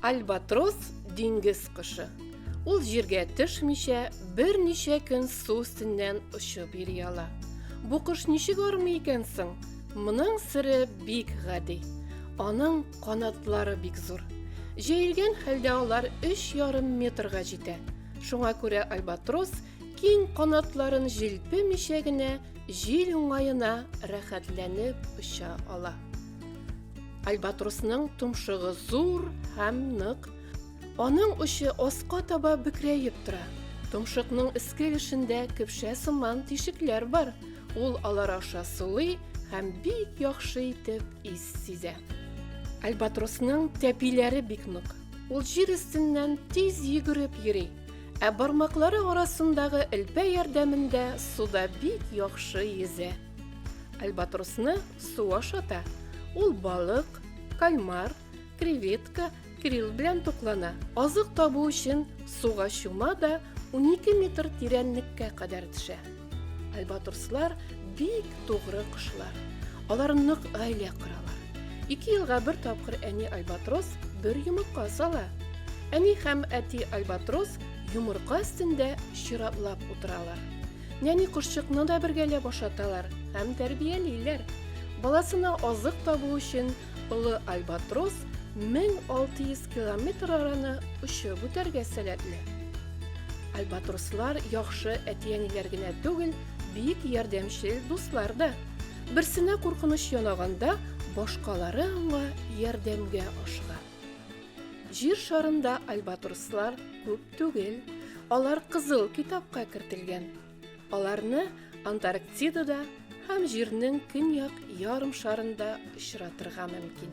Альбатрос диңгез кышы. Ул җиргә төшмичә, берничә көн су өстеннән очып йөри ала. Бу кош ничек армый икән соң? Моның сире бик гади. Аның канатлары бик зур. Җәелгән хәлдә алар 3,5 метрга җитә. Шуңа күрә альбатрос киң канатларын җилпемичә генә җил уңаена рәхәтләнеп оча ала. Альбатросның томшыгы зур һәм нык. Аның очы аска таба бөкрәеп тора. Томшыкның эске эшендә көпшә сыман тишекләр бар. Ул алар аша сулый һәм бик яхшы итеп ис сизә. Альбатросның тәпиләре бик нык. Ул җир өстеннән тиз йөгереп йөри, ә бармаклары арасындагы элпә ярдәмендә суда бик яхшы йөзә. Альбатросны су ашата. Ул балык, кальмар, креветка, крил белән туклана. Азык табу өчен суга чума да 12 метр тирәнлеккә кадәр төшә. Альбатрослар бик тугры кошлар. Алар нык гаилә коралар. Ике елга бер тапкыр әни альбатрос бер йомырка сала. Әни һәм әти альбатрос йомырка өстендә чиратлап утыралар. Нәни кошчыкны да бергәләп ашаталар һәм тәрбиялиләр. Баласына азык табу өчен Олы альбатрос 1600 километр араны очып үтәргә сәләтле. Альбатрослар яхшы әти-әниләр генә түгел, бик ярдәмчел дуслар да. Берсенә куркыныч янаганда, башкалары аңа ярдәмгә ашыга. Җир шарында альбатрослар күп түгел, алар кызыл китапка кертелгән. Аларны Антарктидада һәм Җирнең көньяк ярым шарында очратырга мөмкин.